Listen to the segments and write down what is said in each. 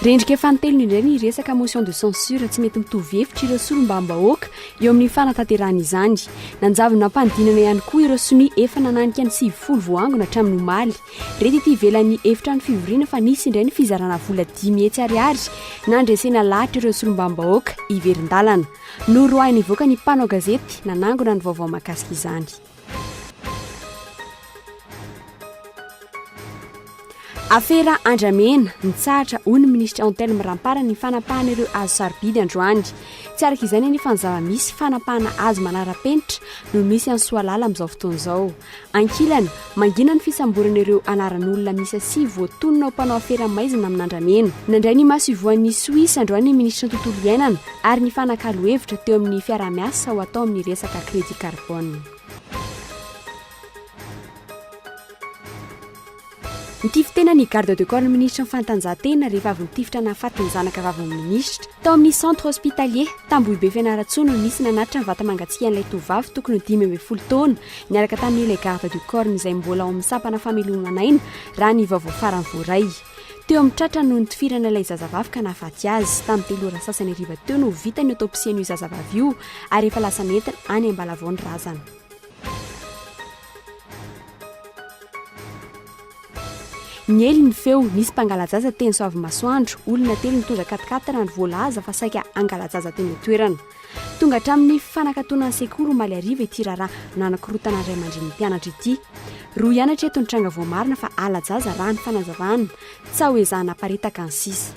Rendrika fanintelony indray ny resaka motion de censure tsy mety mitovy hevitra ireo solombambahoaka eo amin'ny fanatanterahana izany. Nanjavona am-panidinana ihany koa ireo sonia efa nananika ny sivifolo voaangona hatramin'ny omaly. Re tety ivelan'ny efitrano fivoriana fa nisy indray ny fizarana vola dimy hetsy ariary nandresena lahatra ireo solombavambahoaka hiverin-dalana. Noroahiny hivoaka ny mpanao gazety nanangona ny vaovao mahakasika izany. Afera Andramena, nitsahatra hoy ny minisitry Antelme Rampara ny fanapahana ireo hazo sarobidy androany. Tsy araka izany anefa ny zava-misy, fanapahana hazo manara-penitra no misy any Soalala amin'izao fotoana izao. Ankilany, mangina ny fisamborana ireo anaran'olona miisa sivy voatonona ho mpanao afera maizina amin'andramena. Nandray ny maso ivohan'ny Soisa androany ny minisitry ny Tontolo iainana ary nifanakalo hevitra teo amin'ny fiaraha-miasa ho atao amin'ny resaka crédit carbone. Nitify tena ny garde de corps ny minisitry ny fanatanjahantena rehefa avy nitifitra nahafaty ny zanaka vavin'ny minisitra. Tao amin'ny centre hospitalier, Tambohibe Fianarantsoa no nisy nanatitra ny vata-mangatsiakan'ilay tovovavy tokony ho dimy ambin'ny folo taona niaraka tamin'ilay garde de corps izay mbola ao amin'ny sampana fameloman'aina raha ny vaovao farany voaray. Teo amin'ny tratra no nitifirana ilay zazavavy ka nahafaty azy. Tamin'ny telo ora sasany hariva teo no vita ny autopsie an'io zazavavy io ary efa lasa nentina any Ambalavao ny razana. Niely ny feo, nisy mpangala-jaza teny Soavimasoandro. Olona telo nitondra katikaty raha ny voalaza fa saika hangala-jaza teny an-toerana. Tonga hatramin'ny fanakatona ny sekoly omaly hariva ity raharaha nanakorontana ny ray aman-drenin'ny mpianatra ity. Roa ihany hatreto ny tranga voamarina fa hala-jaza raha ny fanazavana. Tsaho ezahina haparitaka ny sisa.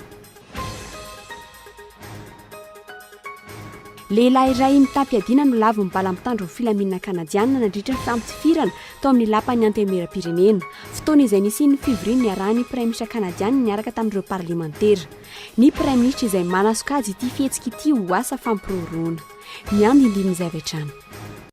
Lehilahy iray mitam-piadiana no lavon'ny bala mitandron'ny filaminana Kanadiana nandritra ny fampitifirana tao amin'ny Lapan'ny Antenimieram-pirenena, fotoana izay nisian'ny fivoriana niarahan'ny Praiminisitra Kanadiana niaraka tamin'ireo Parlemantera. Ny Praiminisitra izay manasokajy ity fihetsika ity ho asa fampirorohona. Ny andindinin'izay avy hatrany.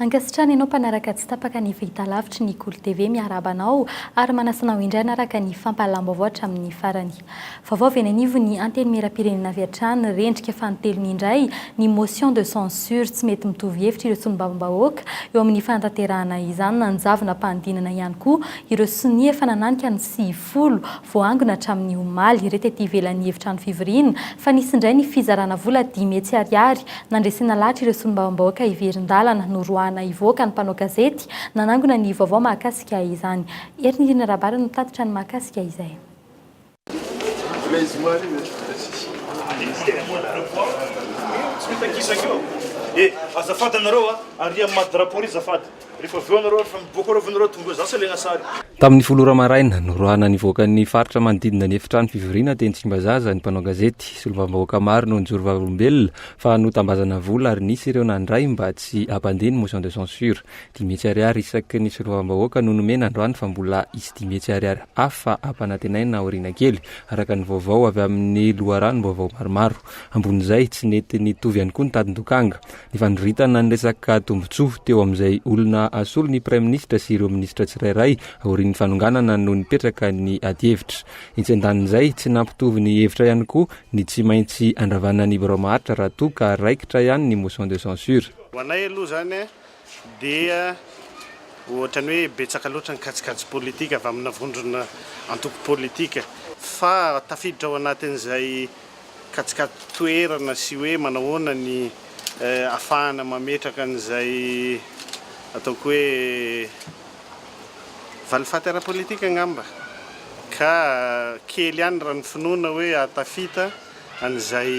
Ankasitrahana ianao mpanaraka tsy tapaka ny fahitalavitry ny Kolo TV, miarahaba anao ary manasa anao indray hanaraka ny fampahalam-baovao hatramin'ny farany. Vaovao avy eny anivon'ny Antenimierampirenena avy hatrany, rendrika fanintelony indray ny motion de censure tsy mety mitovy hevitra ireo solombavambahoaka eo amin'ny fanatanterahana izany, nanjavona am-panidinana ihany koa ireo sonia efa nananika ny sivy folo, voaangona hatramin'ny omaly, ireto ety ivelan'ny efitrano fivoriana, fa nisy indray ny fizarana vola dimy hetsy ariary nandresena lahatra ireo solombavambahoaka hiverin-dalana, noroahana hivoaka ny mpanao gazety nanangona ny vaovao mahakasika izany. Hery Nirina Rabary no nitatitra ny mahakasika izay. Rehefa avy eo nareo rehefa miboaka ireo ve nareo tonga eo za tsy alaina sary. Tamin'ny folo ora maraina, noroahana nivoaka ny faritra manodidina ny efitrano fivoriana teny Tsimbazaza ny mpanao gazety. Solombavambahoaka maro no nijoro vavolombelona fa notambazana vola ary nisy ireo nandray mba tsy hampandeha ny motion de censure. Dimy hetsy ariary isaky ny solombavambahoaka no nomena androany fa mbola hisy dimy hetsy ariary hafa hampanantenaina aoriana kely, araka ny vaovao avy amin'ny loharanom-baovao maromaro. Ambonin'izay, tsy nety nitovy ihany koa ny tadin-dokanga. Ny fandroritana ny resaka tombontsoa teo amin'izay olona asolo ny Praiminisitra sy ireo minisitra tsirairay aorian'ny fanonganana no nipetraka ny adihevitra. Etsy an-danin'izay, tsy nampitovy ny hevitra ihany koa ny tsy maintsy andravana ny Birao maharitra raha toa ka raikitra ihany ny motion de censure. Ho anay aloha izany dia ohatran'ny hoe betsaka loatra ny kajikajy politika avy amina vondrona antoko politika fa tafiditra ao anatin'izay Kajikajy toerana sy hoe manahoana ny afahana mametraka an'izay ataoko hoe valifaty ara-politika angamba ka kely ihany raha ny finoana hoe hahatafita an'izay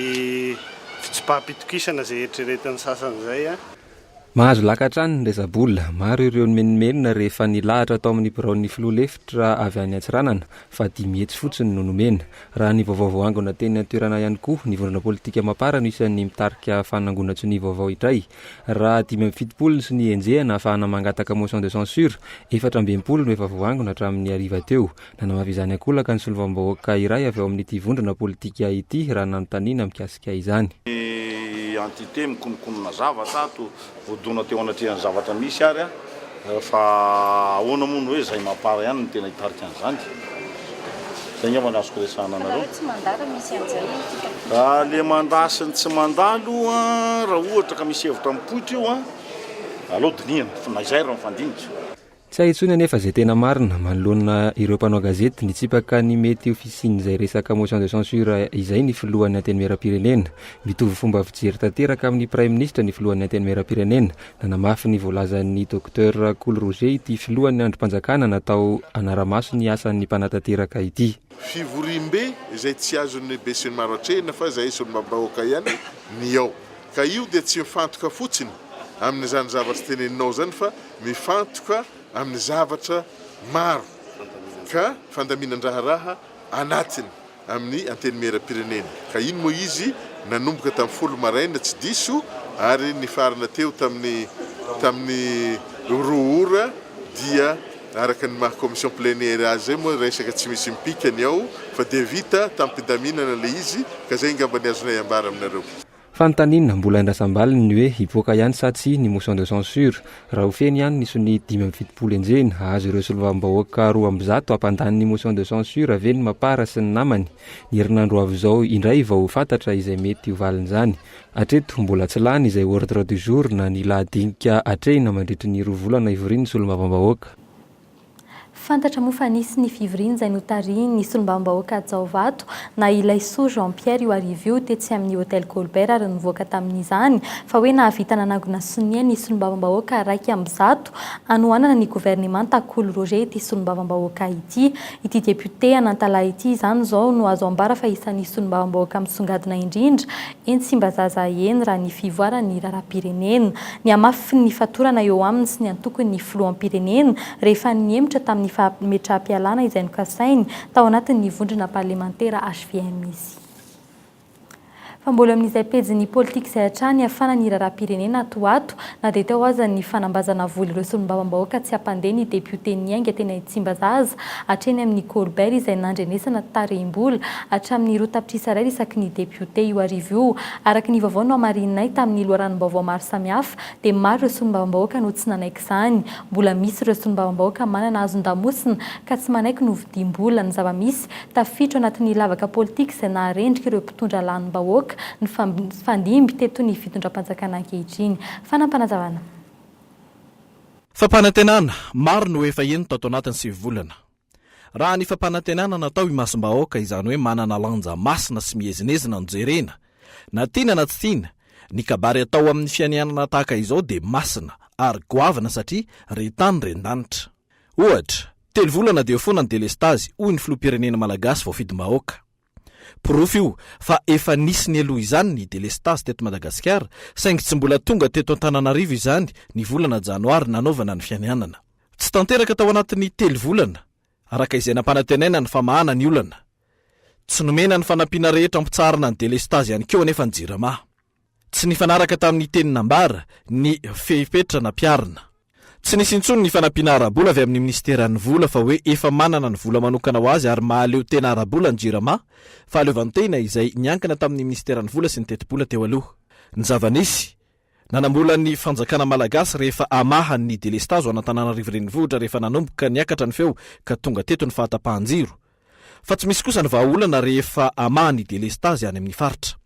fitsipaham-pitokisana izay eritreretin'ny sasany izay. Mahazo laka hatrany ny resa-bola. Maro ireo nimenomenona rehefa nilahatra tao amin'ny biraon'ny filoha lefitra avy any Antsiranana fa dimy hetsy fotsiny no nomena. Raha ny vaovao voaangona teny an-toerana ihany koa, ny vondrona politika Mapar no isan'ny mitarika fanangonan-tsonia vaovao indray. Raha dimy amby fitopolo ny sonia enjehana ahafahana mangataka motion de censure, efatra amby enimpolo no efa voaangona hatramin'ny hariva teo. Nanao avy izany an-kolaka ny solovam-bahoaka iray avy ao amin'ity vondrona politika ity raha nanontaniana mikasika izany. Ny entité mikononkonona zavatra ato, voadona teo anatrehan'ny zavatra misy ary an, fa ahoana moa ny hoe izay mapar ihany no tena hitarika an'izany? Izay angamba no azoko resahana anareo. Fa nareo tsy mandà raha misy an'izay ity kapoaka ity? Ah, le mandà sy ny tsy mandà aloha, raha ohatra ka misy hevitra mipoitra io an, aleo dinihana, fa na izay raha mifandinika. Tsy hay intsony anefa izay tena marina. Manoloana ireo mpanao gazety nitsipaka ny mety ho fisian'izay resaka motion de censure izay ny filohan'ny Antenimierampirenena. Mitovy fomba fijery tanteraka amin'ny Praiminisitra ny filohan'ny Antenimierampirenena. Nanamafy ny voalazan'ny Docteur Kolo Roger ity filohan'ny andrim-panjakana natao hanara-maso ny asan'ny mpanatanteraka ity. Fivoriambe izay tsy azon'ny besinimaro atrehina fa izay ison'ny vabahoaka ihany ny ao. Ka io dia tsy mifantoka fotsiny amin'izany zavatra teneninao izany fa mifantoka amin'ny zavatra maro ka fandaminan-draharaha anatiny amin'ny Antenimierampirenena. Ka iny moa izy nanomboka tamin'ny folo maraina tsy diso ary nifarana teo tamin'ny tamin'ny roa ora dia araka ny maha commission plénière azy izay moa resaka tsy misy mipika ny ao fa dia vita tamim-pidaminana ilay izy ka izay angamba ny azonay ambara aminareo. Fanontaniana mbola andrasam-baliny ny hoe hivoaka ihany sa tsia ny motion de censure. Raha ho feno ihany ny sonia dimy amby fitopolo enjehina, hahazo ireo solovam-bahoaka roa amby zato hampandany ny motion de censure ve ny Mapar sy ny namany? Ny herinandro avy izao indray vao ho fantatra izay mety ho valin'izany. Hatreto, mbola tsy lany izay ordre du jour na ny lahadinika hatrehina mandritry ny roa volana hivorian'ny solombavambahoaka. Fantatra moa fa nisy ny fivoriana izay notarihin'ny solombavambahoaka Jaovato na i Laisoa Jean Pierre io hariva io tetsy amin'ny Hotel Colbert ary nivoaka tamin'izany fa hoe nahavita nanangona sonia ny solombavambahoaka iraika amby zato hanohanana ny governemanta Kolo Roger ity solombavambahoaka ity. Ity depiote Anantalahy ity izany izao no azo ambara fa isan'ny solombavambahoaka misongadina indrindra Eny Tsimbazaza eny raha ny fivoaran'ny raharaham-pirenena. Nihamafy ny fatorana eo aminy sy ny antokony ny filoham-pirenena rehefa nihemotra tamin'ny fametraham-pialana izay nokasainy tao anatin'ny vondrona parlemantera hvm izy. Fa mbola eo amin'izay pejin'ny politika izay hatrany hiafana ny raharaham-pirenena ato ho ato, Na dia teo aza ny fanambazana voly ireo solombavambahoaka tsy hampandeha ny depiote niainga teny Tsimbazaza hatreny amin'ny Colbert izay nandrenesana tarehim-bola hatramin'ny roa tapitrisa ariary isaky ny depiote io arivo io. Araka ny vaovao nohamarininay tamin'ny loharanom-baovao maro samihafa dia maro ireo solombavambahoaka no tsy nanaiky izany. Mbola misy ireo solombavambahoaka manana hazon-damosina ka tsy manaiky novidiam-bola ny zava-misy tafiditra ao anatin'ny lavaka politika izay naharendrika ireo Mitondra lanim-bahoaka ny fandimby teto ny fitondram-panjakana ankehitriny. Fanapanazavana. Fampanantenana maro no efa heno tato anatin'ny sivy volana. Raha ny fampanantenana natao imasom-bahoaka, izany hoe manana lanja masina sy miezinezina no jerena, na tiana na tsy tiana, ny kabary atao amin'ny fianianana tahaka izao dia masina ary goavana satria re tany re ndanitra. Ohatra, telo volana dia ho foana ny delestazy, hoy ny filoham-pirenena malagasy voafidim-bahoaka. Porofo io fa efa nisy nialoha izany ny delestazy teto Madagasikara, saingy tsy mbola tonga teto Antananarivo izany ny volana janoary nanaovana ny fianianana. Tsy tanteraka tao anatin'ny telo volana, araka izay nampanantenaina ny famahana ny olana. Tsy nomena ny fanampiana rehetra ampitsaharana ny delestazy ihany koa anefa ny Jirama. Tsy nifanaraka tamin'ny teny nambara ny fepetra nampiharina. Tsy nisy intsony ny fanampiana ara-bola avy amin'ny minisiteran'ny Vola fa hoe efa manana ny vola manokana ho azy ary mahaleo tena ara-bola ny Jirama, fahaleovantena izay niankina tamin'ny minisiteran'ny Vola sy ny Tetibola teo aloha. Ny zava-nisy, nanambola ny fanjakana malagasy rehefa hamaha ny delestazo an'Antananarivo Renivohitra rehefa nanomboka niakatra ny feo ka tonga teto ny fahatapahan-jiro, Fa tsy misy kosa ny vahaolana rehefa hamaha ny delestazy any amin'ny faritra.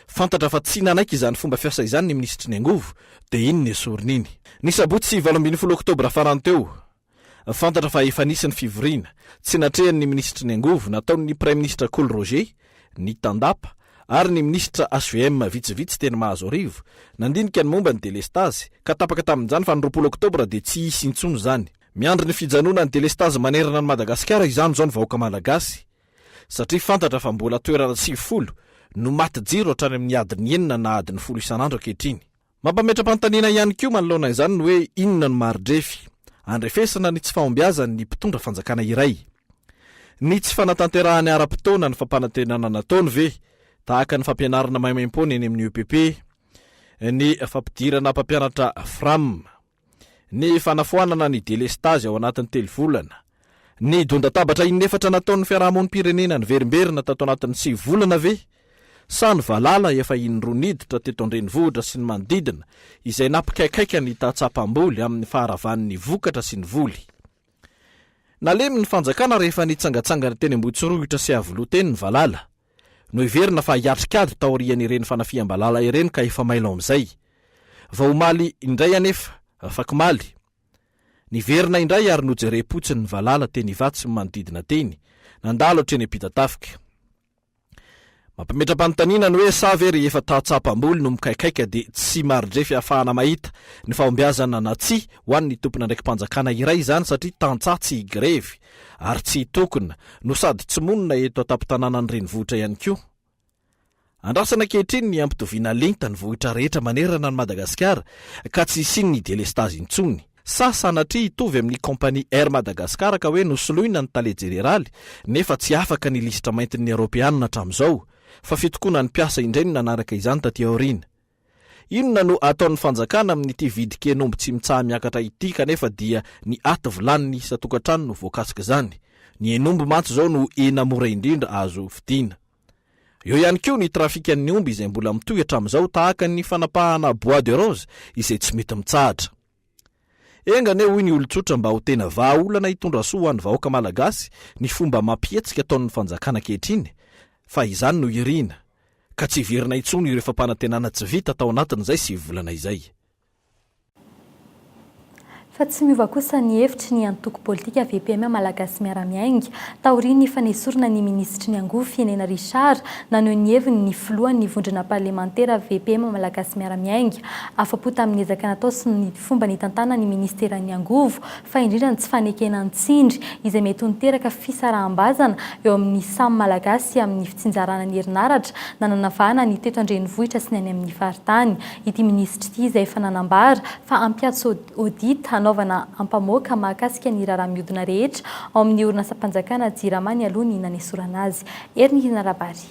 Fantatra fa tsy nanaiky izany fomba fiasa izany ny minisitry ny angovo, dia iny ny esoriny iny. Ny sabotsy valo ambin'ny folo oktobra farany teo, fantatra fa efa nisy ny fivoriana, tsy natrehan'ny minisitry ny angovo, nataon'ny praiminisitra Kolo Roger, ny tandapa, ary ny minisitra hvm vitsivitsy teny Mahazoarivo, nandinika ny momba ny delestazy, ka tapaka tamin'izany fa ny roapolo oktobra dia tsy hisy intsony izany. Miandry ny fijanonan'ny delestazy manerana an'i Madagasikara izany izao ny vahoaka Malagasy satria fantatra fa mbola toerana sivifolo no maty jiro hatrany amin'ny adiny enina na adiny folo isan'andro ankehitriny. Mampametra-panontaniana ihany koa manoloana izany ny hoe inona no mari-drefy andrefesana ny tsy fahombiazan'ny mpitondra fanjakana iray. Ny tsy fanatanterahany ara-potoana ny fampanantenana nataony ve tahaka ny fampianarana maimaim-poana eny amin'ny EPP, ny fampidirana mpampianatra Fram. ny fanafoanana ny delestazy ao anatin'ny telo volana, ny dondatabatra inefatra nataon'ny fiarahamonim-pirenena niverimberina tato anatin'ny sivy volana ve sa ny valala efa in-droa niditra teto an-drenivohitra sy ny manodidina izay nampikaikaika ny tantsaha mpamboly amin'ny faharavan'ny vokatra sy ny voly. Nalemy ny fanjakana rehefa nitsangatsangana teny Ambohitsorohitra sy Iavoloha teny ny valala. Noheverina fa hiatrik'ady taorian'ireny fanafiham-balala ireny ka efa mailo amin'izay. Vao omaly indray anefa, afakomaly, niverina indray ary nojerem-potsiny ny valala teny Ivato sy ny manodidina teny, nandalo hatreny Ampitatafika. Mampimetra-panontaniana ny hoe sa ve rehefa tahatsapam-boly no mikaikaika dia tsy maridrefy ahafahana mahita ny fahombiazana na tsia ho an'ny tompon'andraiki-panjakana iray izany satria tantsaha tsy higrevy? ary tsy hitokona no sady tsy monina eto an-tampon-tanànan'ny renivohitra ihany koa. Andrasana ankehitriny ny hampitoviana lenta ny vohitra rehetra manerana an'i Madagasikara ka tsy hisian'ny delestazy intsony. Sa sanatria hitovy amin'ny kaompania Air Madagascar ka hoe nosoloina ny tale jeneraly nefa tsy afaka ny lisitra maintin'ny Eoropeana hatramin'izao fa fitokonan'ny mpiasa indray no nanaraka izany taty aoriana. Inona no ataon'ny fanjakana amin'ity vidin-ken'omby tsy mitsaha-miakatra ity kanefa dia ny aty vilanin'ny isan-tokantrano no voakasik'izany? Ny hen'omby mantsy izao no hena mora indrindra azo vidiana. Eo ihany koa ny trafikan'ny omby izay mbola mitohy hatramin'izao tahaka ny fanapahana bois de rose izay tsy mety mitsahatra. Enga anie hoy ny olon-tsotra mba ho tena vahaolana hitondra soa ho an'ny vahoaka malagasy ny fomba amam-pihetsika ataon'ny fanjakana ankehitriny fa izany no irina ka tsy hiverina intsony ireo fampanantenana tsy vita tao anatin'izay sivy volana izay. Fa tsy miova kosa ny hevitry ny antoko politika VPM Malagasy Miara-Miainga. Taorian'ny fanesorana ny minisitry ny angovo Fienena Richard, naneho ny heviny ny filohan'ny vondrona parlemantera VPM Malagasy Miara-Miainga, Afa-po tamin'ny ezaka natao sy ny fomba nitantanan'ny minisiteran'ny Angovo, fa indrindra ny tsy fanekena ny tsindry izay mety ho niteraka fisaraham-bazana eo amin'ny samy Malagasy amin'ny fitsinjarana ny herinaratra na nanavahana ny teto an-drenivohitra sy ny any amin'ny faritany ity minisitra ity izay efa nanambara fa hampiatso audit hanaovana ampamoaka mahakasika ny raharaha mihodina rehetra ao amin'ny orinasam-panjakana Jirama nialoha ny nanesorana azy. Herinihinarabary.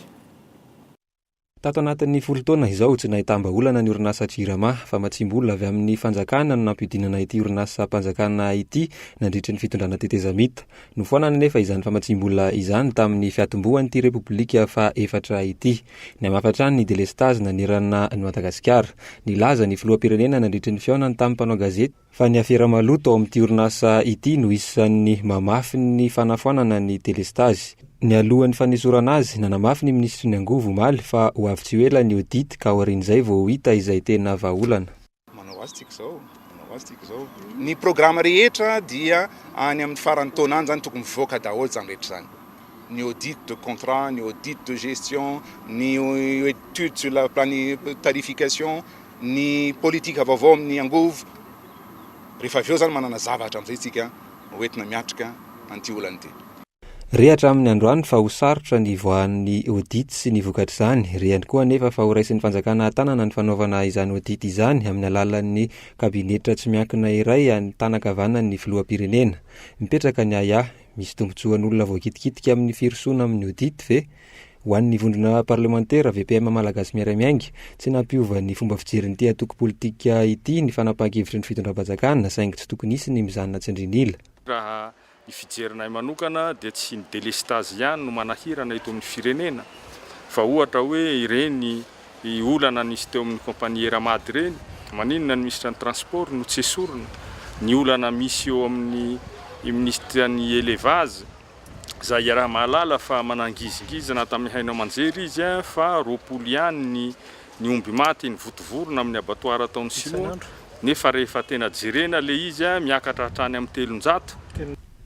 Tato anatin'ny folo taona izao, tsy nahitam-bahaolana ny orinasa Jirama, famatsiam-bola avy amin'ny fanjakana no nampiodinana ity orinasam-panjakana ity nandritry ny fitondrana tetezamita. Nofoanana anefa izany famatsiam-bola izany tamin'ny fiatombohan'ity Repoblika fahaefatra ity. Nihamafa hatrany ny delestazy nanerana an'i Madagasikara. Nilaza ny filoham-pirenena nandritry ny fihaonany tamin'ny mpanao gazety, fa ny afera maloto ao amin'ity orinasa ity no isan'ny mamafy ny fanafoanana ny delestazy. Nialohan'ny fanesorana azy, nanamafy ny minisitry ny angovo omaly fa ho avy tsy ho ela ny audit ka aorian'izay vao ho hita izay tena vahaolana. Manao azy tsika izao, manao azy tsika izao. Ny programa rehetra dia any amin'ny faran'ny taona any izany tokony mivoaka daholo izany rehetra izany. Ny audit de contrat, ny audit de gestion, ny etude sur la planifi-, tarification. ny politika vaovao amin'ny angovo, rehefa avy eo izany manana zavatra amin'izay isika ho entina miatrika an'ity olana ity. Re hatramin'ny androany fa ho sarotra ny hivoahan'ny audit sy ny vokatr'izany. Re ihany koa anefa fa horaisin'ny fanjakana an-tanana ny fanaovana izany audit izany amin'ny alalan'ny kabinetra tsy miankina iray any tanan-kavanan'ny filoham-pirenena. Mipetraka ny ahiahy, misy tombontsoan'olona voakitikitika amin'ny firosoana amin'ny audit ve? Ho an'ny vondrona parlemantera VPM Malagasy Miaray Miainga, tsy nampiova ny fomba fijerin'ity antoko politika ity ny fanapahan-kevitry ny fitondram-panjakana saingy tsy tokony hisy ny mijanona tsindrin'ila. Raha ny fijerinay manokana dia tsy ny delestazy ihany no manahirana eto amin'ny firenena fa ohatra hoe ireny olana nisy teo amin'ny compagnie Eramad ireny, maninona ny minisitran'ny transport no tsy esorina, ny olana misy eo amin'ny minisitran'ny elevage, Izay iaraha-mahalala fa manangizingizina tamin'ny haino aman-jery izy fa roapolo ihany ny ny omby maty nivotovorona amin'ny abattoir ataon'ny sinoa nefa rehefa tena jerena ilay izy miakatra hatrany amin'ny telonjato.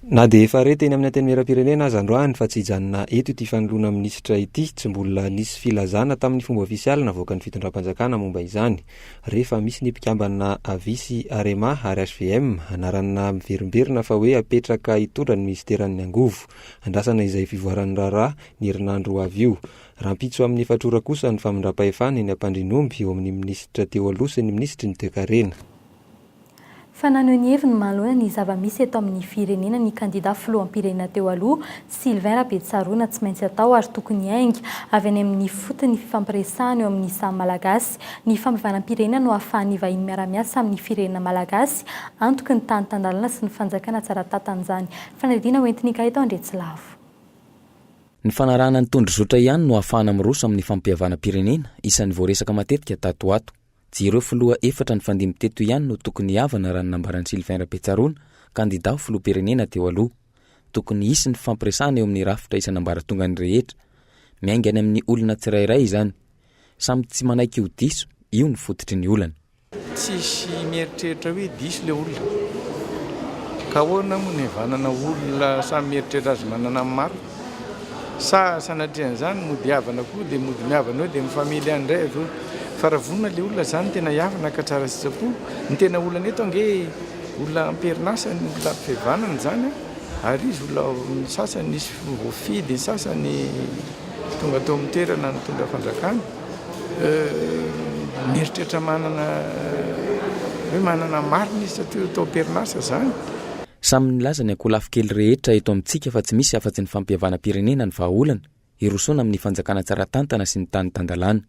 Na dia efa re teny amin'ny antenimieram-pirenena aza androany fa tsy hijanona eto ity fanoloana minisitra ity, tsy mbola nisy filazana tamin'ny fomba ofisialy navoakan'ny fitondram-panjakana momba izany. Rehefa misy ny mpikambana Avi sy Arema ary hvm, anarana miverimberina fa hoe apetraka hitondra ny minisiteran'ny angovo. Andrasana izay fivoaran'ny raharaha ny herinandro ho avy io. Rahampitso amin'ny efatra ora kosa ny famindram-pahefana eny Ampandrianomby eo amin'ny minisitra teo aloha sy ny minisitry ny toekarena. Fa naneho ny heviny manoloana ny zava-misy eto amin'ny firenena ny kandida filoham-pirenena teo aloha, Sylvain Rabetsaroana, tsy maintsy atao ary tokony hiainga avy any amin'ny ifotony ny fifampiresahana eo amin'ny samy Malagasy. Ny fampihavanam-pirenena no ahafahan'ny vahiny miara-miasa amin'ny firenena Malagasy, antoky ny tany tan-dalana sy ny fanjakana tsara tantan'izany. Fanadihadiana hoentin'Ikay tao Andriatsilavo. Ny fanarahana ny tondrozotra ihany no ahafahana miroso amin'ny fampihavanam-pirenena, isan'ny voaresaka matetika tato ho ato. Jireo filoha efatra nifandimby teto ihany no tokony hihavana raha ny nambaran'i Sylvain Rabetsaroana, kandida ho filoham-pirenena teo aloha. Tokony hisy ny fifampiresahana eo amin'ny rafitra isan'ambaratongany rehetra. Miainga any amin'ny olona tsirairay izany. Samy tsy manaiky ho diso, io no fototry ny olana. Tsisy mieritreritra hoe diso ilay olona. Ka ahoana moa ny hihavanana olona samy mieritreritra azy manana ny marina? Sa sanatrian'izany mody hiavana koa dia mody miavana eo dia ny family any indray avy eo? Fa raha vonona ilay olona izany tena hiavana ka tsara sitrapo, ny tena olana eto ange olona amperin'asa ny olona ampivevanana izany an! ary izy olona ny sasany nisy voafidy, ny sasany tonga tao amin'ny toerana nitondra fanjakana mieritreritra manana hoe manana marina izy satria tao amperin'asa izany. Samy nilaza ny ankolafy kely rehetra eto amintsika fa tsy misy afa-tsy ny fampihavanam-pirenena ny vahaolana hirosoana amin'ny fanjakana tsara tantana sy ny tany tan-dalàna.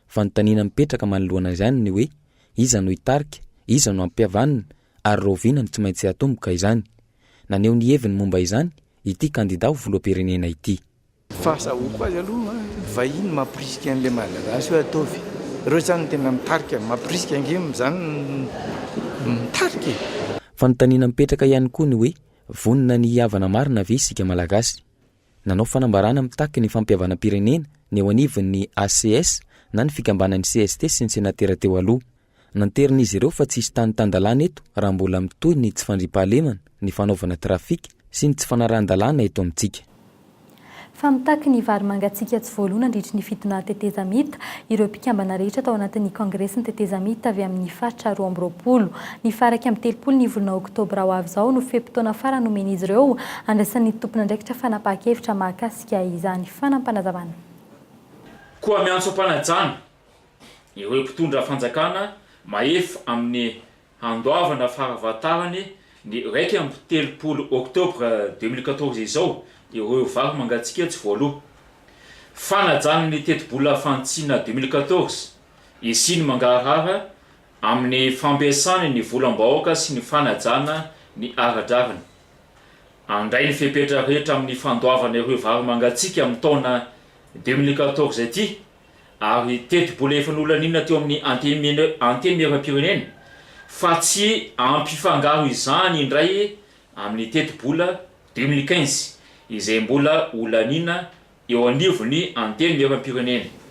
Fanontaniana mipetraka manoloana izany ny hoe iza no hitarika, iza no hampihavanina ary rahoviana no tsy maintsy hatomboka izany. Naneho ny heviny momba izany ity kandida ho filoham-pirenena ity. Fahazahoako azy aloha vahiny mampirisika an'ilay malagasy hoe ataovy. Ireo izany no tena mitarika, mampirisika ange izany no mitarika e! Fanontaniana mipetraka ihany koa ny hoe vonona ny hihavana marina ve isika malagasy? Nanao fanambarana mitaky ny fampihavanam-pirenena ny eo anivon'ny ACS na ny fikambanan'ny cst sy ny senatera teo aloha. Nanterin'izy ireo fa tsisy tany tan-dalàna eto raha mbola mitohy ny tsy fandriampahalemana, ny fanaovana trafika sy ny tsy fanarahan-dalàna eto amintsika. Fa mitaky ny vary mangatsiaka tsy voaloa nandritry ny fitonà tetezamita ireo mpikambana rehetra tao anatin'ny kongresin'ny tetezamita avy amin'ny faritra roa amby roapolo. Ny faha iraika amby telopolo ny volana oktobra ho avy izao no fe-potoana farany nomen'izy ireo handraisan'ny tompon'andraikitra fanapahan-kevitra mahakasika izany fanampanazavana. Koa miantso am-panajana Ireo mpitondra fanjakana mahefa amin'ny handoavana fahafantarany ny iraika amby telopolo Octobre deux mille quatorze izao ireo vary mangatsiaka tsy voaloa. Fanajana ny tetibola fantsina deux mille quatorze isiany mangarahara amin'ny fampiasany ny volam-bahoaka sy ny fanajana ny ara-drariny. Handray ny fepetra rehetra amin'ny fandoavana ireo vary mangatsiaka amin'ny taona deux mille quatorze ity. ary tetibola efa nolaninina teo amin'ny Antenimierampirenena fa tsy ampifangaro izany indray amin'ny tetibola deux mille quinze izay mbola holaniana eo anivon'ny Antenimierampirenena.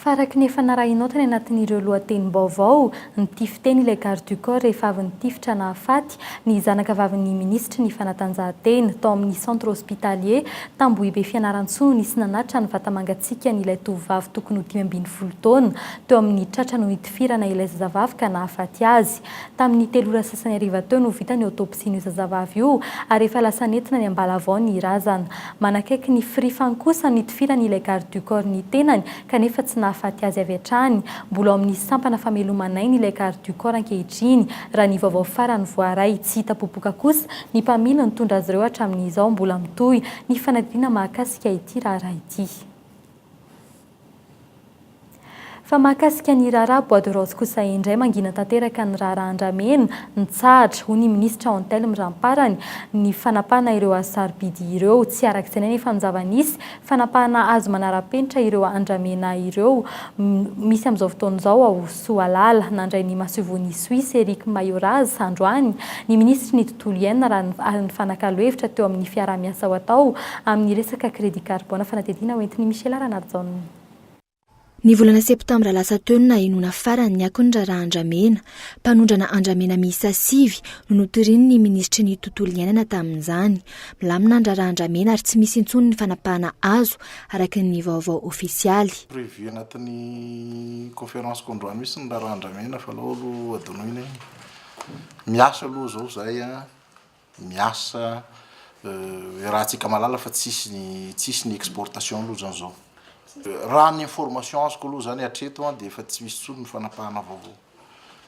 Faraky ny efa narahinao tany anatin'ireo lohatenim-baovao, nitify teny ilay Garde du Corps rehefa avy nitifitra nahafaty, ny zanakavavin'ny minisitry ny Fanatanjahantena, tao amin'ny Centre Hospitalier Tambohibe Fianarantsoa nisy nanatitra ny vata-mangatsiakan'ilay tovovavy tokony ho dimy ambin'ny folo taona teo amin'ny tratra no nitifirana ilay zazavavy ka nahafaty azy. Tamin'ny telo ora sasany hariva teo no vita ny autopsie-n'io zazavavy io ary efa lasa nentina ny am-balavao ny razana. Manakaiky ny firifany kosa nitifiran'ilay garde du corps ny tenany kanefa tsy nahafaty azy avy hatrany. Mbola ao amin'ny sampana fameloman'aina ilay Garde du Corps ankehitriny, raha ny vaovao farany voaray. Tsy hita popoka kosa ny mpamily nitondra azy ireo hatramin'izao. Mbola mitohy ny fanadihadiana mahakasika ity raharaha ity. Fa mahakasika ny raharaha bois de rose kosa indray, mangina tanteraka ny raharaha andramena, mitsahatra, hoy ny minisitra Antelme Ramparany, ny fanapahana ireo hasarobidy ireo. Tsy arak'izay anefa ny zava-nisy fanapahana azy manara-penitra ireo andramena ireo misy amin'izao fotoana izao ao Soalala. Nandray ny masoivohon'i Suisse Eric Mayoraz androany ny minisitry ny tontolo iainana ary nifanakalo hevitra teo amin'ny fiaraha-miasa ho atao amin'ny resaka crédit carbone fanadihadiana hoentin'i Michela Ranarijaona. Ny volana septambra lasa teo no nahenoana farany ny akon'ny raharaha Andramena. Mpanondrana andramena miisa sivy no notoriany ny minisitry ny Tontolo iainana tamin'izany. Milamina ny raharaha andramena ary tsy misy intsony ny fanapahana azo, araka ny vaovao ofisialy. Prévu anatin'ny conférence k'androany mihitsy ny raharaha andramena fa alao aloha hadinoina iny. Miasa aloha izao izahay an! miasa iarahantsika mahalala fa tsisy ny tsisy ny exportation aloha zany zao raha ny information azoko aloha zany hatreto an dia efa tsy misy intsony ny fanapahana vaovao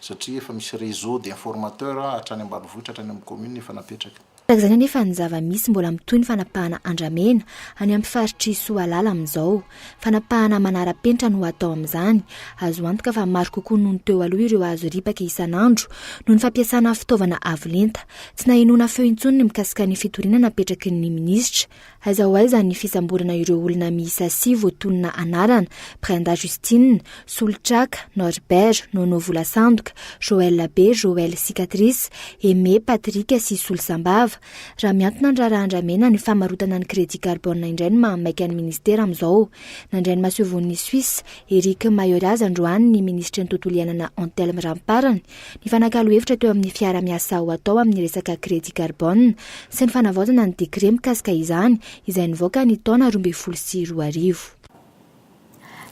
satria efa misy réseau d'informateur hatrany ambanivohitra hatrany amin'ny commune efa napetraka. Tahaka izany anefa ny zava-misy mbola mitohy ny fanapahana andramena any amin'ny faritr'i Soalala amin'izao. Fanapahana manara-penitra no atao amin'izany. Azo antoka fa maro kokoa noho ny teo aloha ireo azo ripaka isan'andro, noho ny fampiasana fitaovana avo lenta. Tsy nahenoana feo intsony ny mikasika ny fitoriana napetraky ny minisitra. Aiza ho aiza ny fisamborana ireo olona miisa sivy voatonona anarana, Brenda Justine, Solotraka, Norbert, Nono Volasandoka, Joël Be, Joël Cicatrice, Aimé, Patrick sy Solisambava. Raha mihantona ny raharaha andramena ny famarotana ny crédit carbone indray ny mahamaika ny ministera amin'izao. Nandray ny masoivohon'i Suisse, Eric Mayoras androany ny minisitry ny tontolo iainana Antelme Ramparany, nifanakalo hevitra teo amin'ny fiarahamiasa ho atao amin'ny resaka crédit carbone sy ny fanavaozana ny décret mikasika izany izay nivoaka ny taona roa ambin'ny folo sy roa arivo.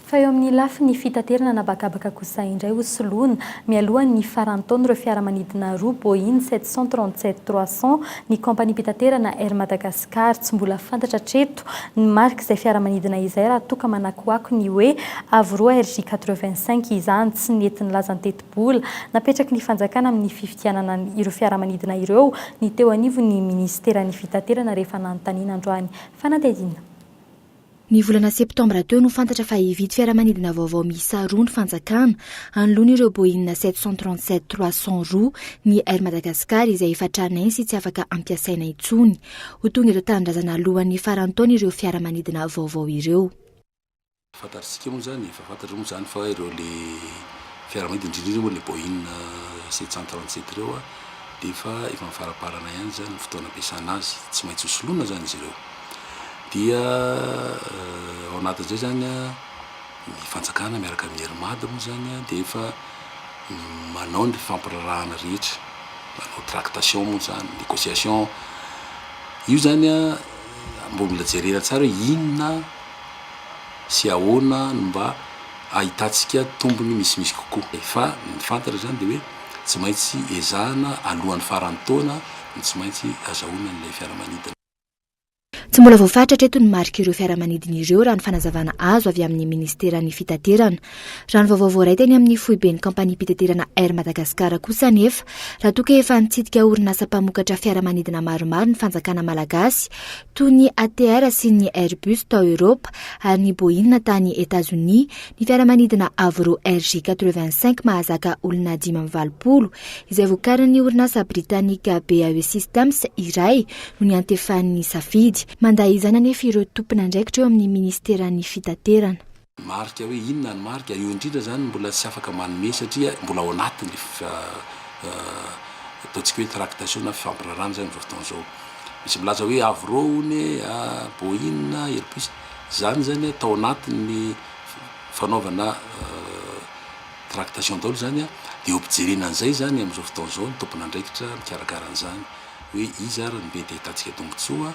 Fa eo amin'ny lafiny fitaterana anabakabaka kosa indray ho soloina, mialoha ny faran'ny taona, ireo fiaramanidina roa Boeing sept cent trente-sept trois cent ny kaompaniam-pitaterana Air Madagascar. Tsy mbola fantatra hatreto ny marik'izay fiaramanidina izay raha toa ka manakoako ny hoe Avro RJ quatre-vingt-cinq izany. Tsy nety nilaza ny tetibola napetraky ny fanjakana amin'ny fifidianana ireo fiaramanidina ireo ny teo anivon'ny minisiteran'ny fitaterana rehefa nanontaniana androany fanadihadiana. Ny volana septambra teo no fantatra fa hividy fiaramanidina vaovao miisa roa ny fanjakana, hanoloana ireo Boeing sept cent trente sept trois cent roa ny Air Madagascar izay efa tranainy sy tsy afaka ampiasaina intsony. Ho tonga eto an-tanindrazana alohan'ny faran'ny taona ireo fiaramanidina vaovao ireo. Fantatr'isika moa izany, efa fantatrao moa izany fa ireo ilay fiaramanidina, indrindra indrindra moa ilay Boeing sept cent trente sept ireo dia efa efa amin'ny faramparana ihany izany ny fotoana ampiasana azy. Tsy maintsy ho soloina izany izy ireo. dia ao anatin'izay zany a ny fanjakana miaraka amin'ny Air Mad moa zany a dia efa manao ny fifampiraharahana rehetra manao tractation moa zany négociation io zany a mbola mila jerena tsara hoe inona sy ahoana no mba ahitantsika tombony misimisy kokoa fa ny fantatra zany dia hoe tsy maintsy ezahana alohan'ny faran'ny taona no tsy maintsy azahoana an'ilay fiaramanidina Tsy mbola voafaritra hatreto ny marik'ireo fiaramanidina ireo, raha ny fanazavana azo avy amin'ny minisiteran'ny Fitaterana. Raha ny vaovao voaray teny amin'ny foiben'ny kaompaniam-pitaterana Air Madagascar kosa anefa, raha toa ka efa nitsidika orinasa mpamokatra fiaramanidina maromaro ny fanjakana malagasy, toy ny ATR sy ny Airbus tao Eoropa ary ny Boeing tany Etazonia, ny fiaramanidina Avro RJ quatre-vingt-cinq mahazaka olona dimy amby valopolo, izay vokarin'ny orinasa britanika BAE Systems iray, no niantefany ny safidy. Mandà izany anefa ireo tompon'andraikitra eo amin'ny minisiteran'ny Fitaterana. Marika hoe inona ny marika? Io indrindra izany no mbola tsy afaka manome satria mbola ao anatin'ny ataontsika hoe tractation na fifampiraharana izany amin'izao fotoana izao. Misy milaza hoe Avro hono e, Boeing, Airbus. Izany izany tao anatin'ny fanaovana tractation daholo izany dia eo am-pijerena an'izay izany amin'izao fotoana izao ny tompon'andraikitra mikarakara an'izany. Hoe iza ary no be dia hitantsika tombontsoa?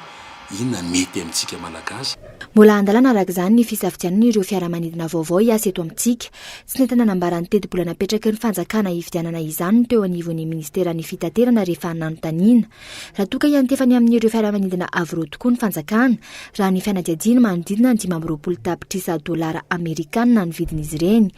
Inona no mety amintsika Malagasy? Mbola an-dalana araka izany ny fisafidianana ireo fiaramanidina vaovao hiasa eto amintsika. Tsy nety nanambara ny tetibola napetraky ny fanjakana hifidianana izany ny teo anivon'ny minisiteran'ny fitaterana rehefa nanontaniana raha toa ka hiantefa ny amin'ireo fiaramanidina avy roa tokoa ny fanjakana raha ny fanadihadiany manodidina ny dimy amby roapolo tapitrisa dolara amerikana ny vidin'izy ireny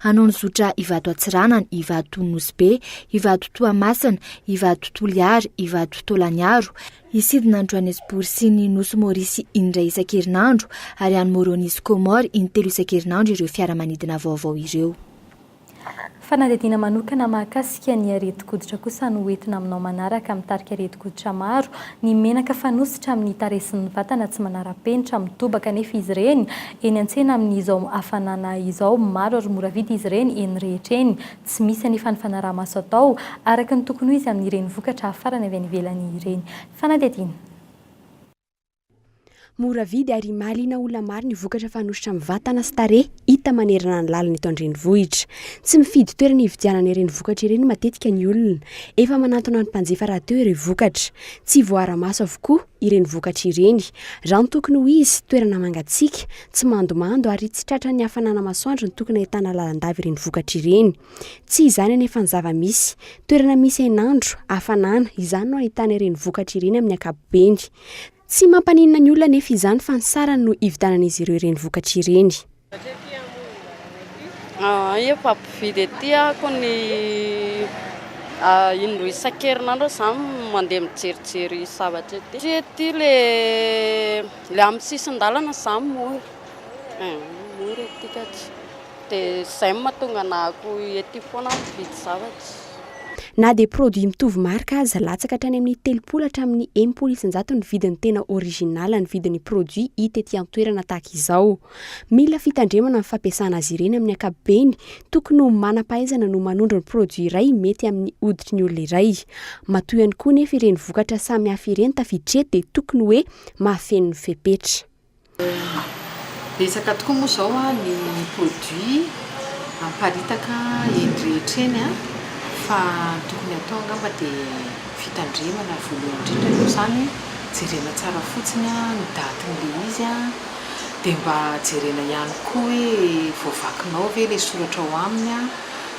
Hanao ny zotra Ivato Atsiranana, Ivato Nosibe, Ivato Toamasina, Ivato Toliary, Ivato Tolaniaro, hisidina any Johannesburg sy ny Nosy Maorisy indray isan-kerinandro ary any Moroni sy Comores intelo isan-kerinandro ireo fiaramanidina vaovao ireo. Fanadihadiana manokana mahakasika ny aretin-koditra kosa no hoentina aminao manaraka amin'ny tarika aretin-koditra maro Ny menaka fanosotra amin'ny tarehy sy ny vatana tsy manara-penitra, mitobaka anefa izy ireny eny an-tsena amin'izao hafanana izao. Maro ary mora vidy izy ireny eny rehetra eny. Tsy misy anefa ny fanaraha-maso atao araka ny tokony ho izy amin'ireny vokatra hafarana avy any ivelany ireny. Fanadihadiana. Mora vidy ary mahaliana olona maro ny vokatra fanosotra amin'ny vatana sy tarehy hita manerana ny lalana eto an-drenivohitra. Tsy mifidy toerana hividianana ireny vokatra ireny matetika ny olona. Efa manantona ny mpanjifa rahateo ireo vokatra. Tsy voaara-maso avokoa ireny vokatra ireny. Raha ny tokony ho izy, toerana mangatsiaka, tsy mandomando ary tsy tratran'ny hafanana masoandro no tokony ahitana lalandava ireny vokatra ireny. Tsy izany anefa ny zava-misy. Toerana misy hainandro, hafanana, izany no ahitana ireny vokatra ireny amin'ny ankapobeny. Tsy mampaninona ny olona anefa izany fa ny sarany no ividianan'izy ireo ireny vokatra ireny. Efa mpividy ety aho ny indroa isan-kerinandro eo za mandeha mijerijery zavatra ety. Satria ety ilay amin'ny sisin-dalana za mora, mora ety ka dia izay no mahatonga anah ety foana aho mividy zavatra. Na dia produit mitovy marika aza, latsaka hatrany amin'ny telopolo hatramin'ny enimpolo isanjato ny vidiny tena original ny vidin'ny produit hita ety an-toerana tahaka izao. Mila fitandremana ny fampiasana azy ireny amin'ny ankapobeny, tokony ho manam-pahaizana no manondro ny produit iray mety amin'ny hoditry ny olona iray. Matoa ihany koa nefa ireny vokatra samy hafa ireny tafiditra eto dia tokony hoe mahafeno ny fepetra. Betsaka tokoa moa izao ny produit miparitaka eny rehetra eny fa ny tokony hatao angamba dia fitandremana voalohany indrindra aloha izany, jerena tsara fotsiny ny datin'ilay izy, dia mba jerena ihany koa hoe voavakinao ve ilay soratra ao aminy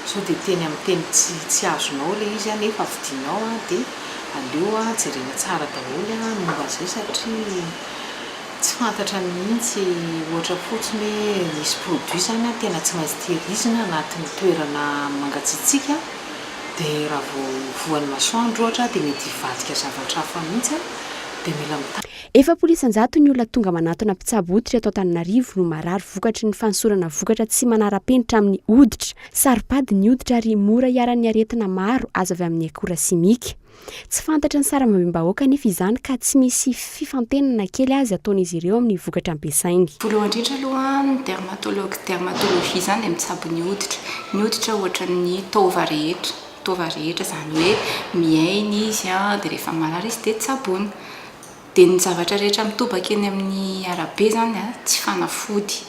sao dia teny amin'ny teny tsy azonao ilay izy nefa vidinao dia aleo jerena tsara daholo ny momba izay satria. tsy fantatra mihitsy ohatra fotsiny hoe nisy produit zany tena tsy maintsy tehirizina anatin'ny toerana mangatsiatsiaka dia raha vao voan'ny masoandro ohatra dia mety hivadika zavatra hafa mihitsy dia mila mitandrina. Efapolo isan-jato ny olona tonga manatona mpitsabo hoditra eto Antananarivo no marary vokatry ny fanosorana vokatra tsy manara-penitra amin'ny hoditra. Saropady ny hoditra ary mora iharan'ny aretina maro azo avy amin'ny akora simika. Tsy fantatry ny sarambabem-bahoaka anefa izany ka tsy misy fifantenana na kely aza ataon'izy ireo amin'ny vokatra ampiasainy. Voalohany indrindra aloha, ny dermatologue, dermatologie, izany dia mitsabo ny hoditra. Ny hoditra ohatran'ny taova rehetra, taova rehetra izany hoe miaina izy dia rehefa marary izy dia tsaboina. Dia ny zavatra rehetra mitobaka eny amin'ny arabe izany tsy fanafody.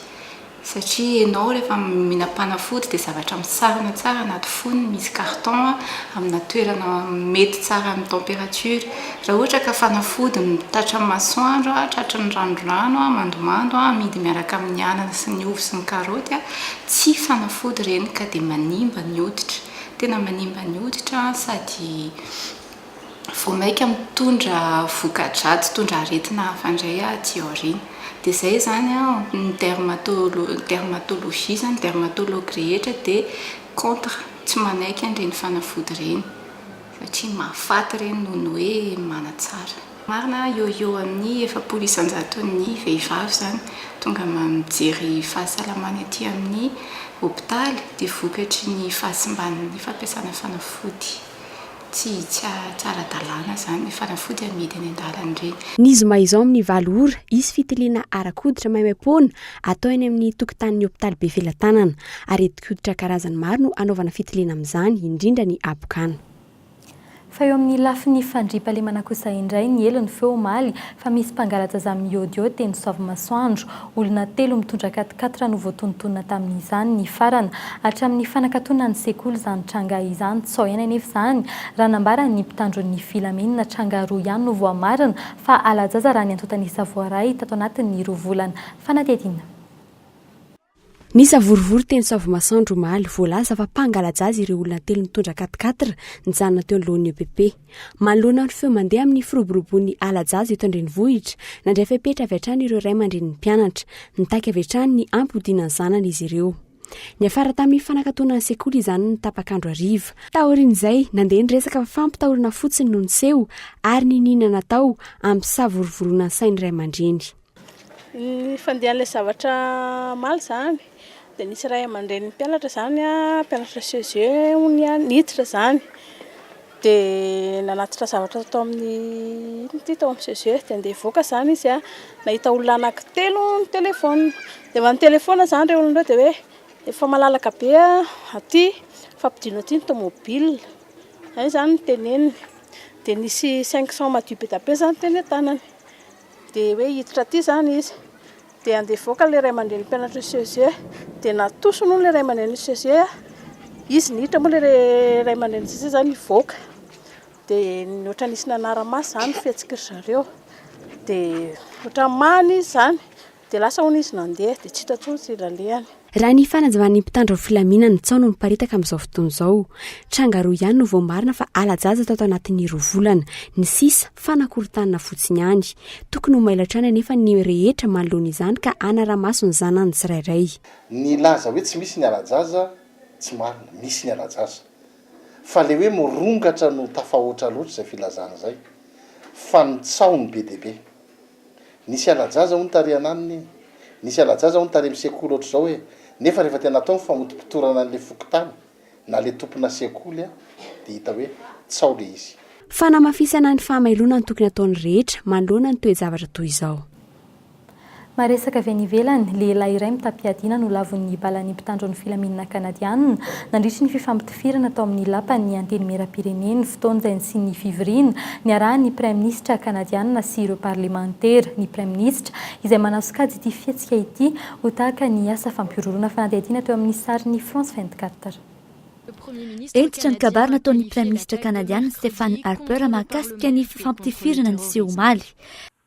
Satria enao rehefa mihinam-panafody dia zavatra misarona tsara anaty fonony, misy carton amina toerana mety tsara amin'ny temperature. Raha ohatra ka fanafody tratran'ny masoandro, tratran'ny ranodrano, mandomando, amidy miaraka amin'ny anana sy ny ovy sy ny karaoty, tsy fanafody ireny ka dia manimba ny hoditra. Tena manimba ny hoditra sady. vao maika mitondra voka-dratsy, mitondra aretina hafa indray aty aoriana. Dia izay izany an, ny dermatolo- ny dermatologie izany, ny dermatologue rehetra dia contre, tsy manaiky an'ireny fanafody ireny, satria mahafaty ireny noho ny hoe manatsara. Marina, eo ho eo amin'ny efapolo isan-jaton'ny vehivavy izany tonga mijery fahasalamany aty amin'ny hopitaly dia vokatry ny fahasimban'ny fampiasana fanafody Tsy tsy ara-dalàna izany ny fanafody amidy eny an-dalana ireny. Ny zoma izao amin'ny valo ora, hisy fitiliana ara-koditra maimaim-poana atao eny amin'ny tokotanin'ny hopitaly Befelatanana. Aretin-koditra karazany maro no hanaovana fitiliana amin'izany, indrindra ny habokana. Fa eo amin'ny lafiny fandriampahalemana kosa indray, niely ny feo omaly fa misy mpangalatra zà miôdiôdy teny Soavimasoandro. Olona telo mitondra quat-quatre no voatonontonona tamin'izany nifarana. Hatramin'ny fanakatonan'ny sekoly izany tranga izany tsy aoena anefa izany raha nambaran' ny mpitandron' ny filaminana. Tranga roa ihany no voamarina fa halajaza raha ny antontan'isa voaray tato anatin'ny roa volana fanadihadiana. Ny savorovoro teny Savimasoandro omaly. Voalaza fa mpangalajaza ireo olona telo nitondra quat-quatre nijanona teo anoloan'ny EPP. Manoloana ny feo mandeha amin'ny firoborobon'ny ala-jaza eto an-drenivohitra, nandray fepetra avy hatrany ireo ray aman-drenin'ny mpianatra. Nitaky avy hatrany ny hampodiana ny zanany izy ireo. Niafara tamin'ny fanakatona ny sekoly izany ny tapak'andro hariva. Taorian'izay, nandeha ny resaka fa fampitahorana fotsiny no niseho ary niniana natao hampisavorovoroana ny sain'ny ray aman-dreny. Ny fandehan'ilay zavatra hamaly izany dia nisy ray aman-drenin'ny mpianatra izany a, mpianatra CEGE hono ny an'ny hiditra izany dia nanatitra zavatra tao amin'ny inona ity tao amin'ny CEGE dia handeha hivoaka izany izy a, nahita olona anankitelo nitelefona, dia efa nitelefona izany ireo olona ireo dia hoe efa malalaka be a aty, efa ampidino aty ny tomobila, izay izany no teneniny, dia nisy cinq cents madio be dia be izany teny an-tanany. Dia hoe hiditra aty izany izy, dia handeha hivoaka ilay ray aman-drenin'ny mpianatr'io CEG, dia natosiny hono ilay ray aman-drenin'io CEG, izy niditra moa ilay ray aman-drenin'ny CEG izany hivoaka, dia ny ohatra nisy nanara-maso izany ny fihetsik'izareo, dia ohatra mamy izy izany. Dia lasa hono izy nandeha, dia tsy hita intsony tsy ilalehany. Raha ny fanazavan'ny mpitandro ny filaminana ny tsaho no miparitaka amin'izao fotoana izao. Tranga roa ihany no voamarina fa hala-jaza tato anatin'ny roa volana. Ny sisa, fanakorontanana fotsiny ihany. Tokony ho mailo hatrany anefa ny rehetra manoloana izany ka hanara-maso ny zanany tsirairay. Ny laza hoe tsy misy ny hala-jaza, tsy marina. Misy ny hala-jaza. Fa ilay hoe mirongatra no tafahoatra loatra izay filazana izay. Fa ny tsaho no be dia be. Nisy ala-jaza hono tary ananona e! Nisy ala-jaza hono tary amin'ny sekoly ohatr'izao e! Nefa rehefa tena atao ny famotopotorana an'ilay fokontany na ilay tompona sekoly dia hita hoe tsao ilay izy. Fanamafisana ny fahamailoana no tokony ataon'ny rehetra manoloana ny toe-javatra toy izao. Maresaka avy any ivelany, Lehilahy iray mitam-piadiana nolavon'ny balan'ny mpitandro ny filaminana Kanadiana nandritry ny fifampitafiana. Tifirana tao amin'ny Lapan'ny Antenimierampireneny fotoanjainy sy ny fivoriana niarahan'ny Praiminisitra Kanadiana sy ireo Parlemantera, ny Praiminisitra, izay manao sokajy ity fihetsika ity ho tahaka ny asa fampihorohoroana fanadihadiana teo amin'ny sarin'ny France vingt-quatre. Hentitra ny kabary nataon'ny Praiminisitra Kanadiana Stephen Harper mahakasika ny fifampitifirana niseho omaly.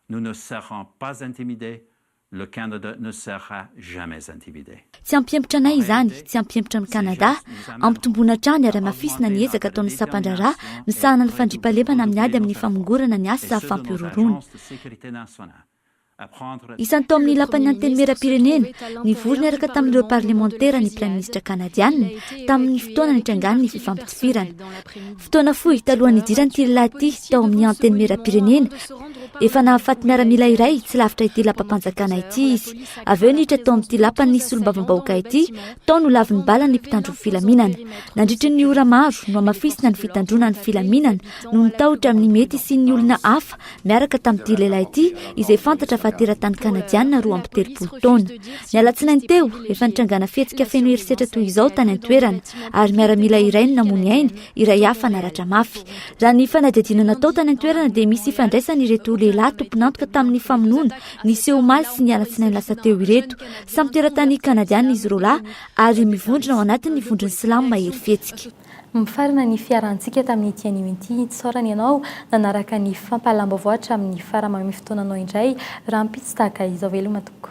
Nous ne serons pas intimidés, Le Canada ne sera jamais intimidé. Tsy hampihemotra anay izany, tsy hampihemotra an'i Kanada. Hampitomboana hatrany ary hamafisina ny ezaka ataon'ny sampan-draharaha misahana ny fandriampahalemana amin'ny ady amin'ny famongorana ny asa fampihorohoroana. Isany tao amin'ny Lapan'ny Antenimierampirenena, nivory niaraka tamin'ireo parlemantera ny Praiminisitra Kanadiana, tamin'ny fotoana nitrangan'ny fifampitifirana. Fotoana fohy talohan'ny hidiran'ity lehilahy ity tao amin'ny Antenimierampirenena, Efa nahafaty miaramila iray tsy lavitra ity lapam-panjakana ity izy. Avy eo niditra tao amin'ity lapan'ny ny solombavambahoaka ity, tao no lavin'ny bala ny mpitandron'ny filaminana. Nandritry ny ora maro, nohamafisina ny fitandroana ny filaminana no nitahotra amin'ny mety hisian'ny olona hafa miaraka tamin'ity lehilahy ity izay fantatra fa teratany kanadianina roa amby telopolo taona. Ny alatsinainy teo, efa nitrangana fihetsika feno herisetra toy izao tany an-toerana ary miaramila iray no namoy ny ainy iray hafa naratra mafy. Raha ny fanadihadiana natao tany an-toerana dia misy ifandraisany ireto lehilahy tompon'antoka tamin'ny famonoana niseho omaly sy ny alatsinainy lasa teo ireto. Samy teratany kanadiana izy roalahy ary mivondrona ao anatin'ny vondron'ny silamo mahery fihetsika. Mifarana ny fiarahantsika tamin'ity anio ity. Isaorana ianao nanaraka ny fampahalam-baovao hatramin'ny farany. Mameno fotoananao indray rahampitso tahaka izao. Veloma tompoko.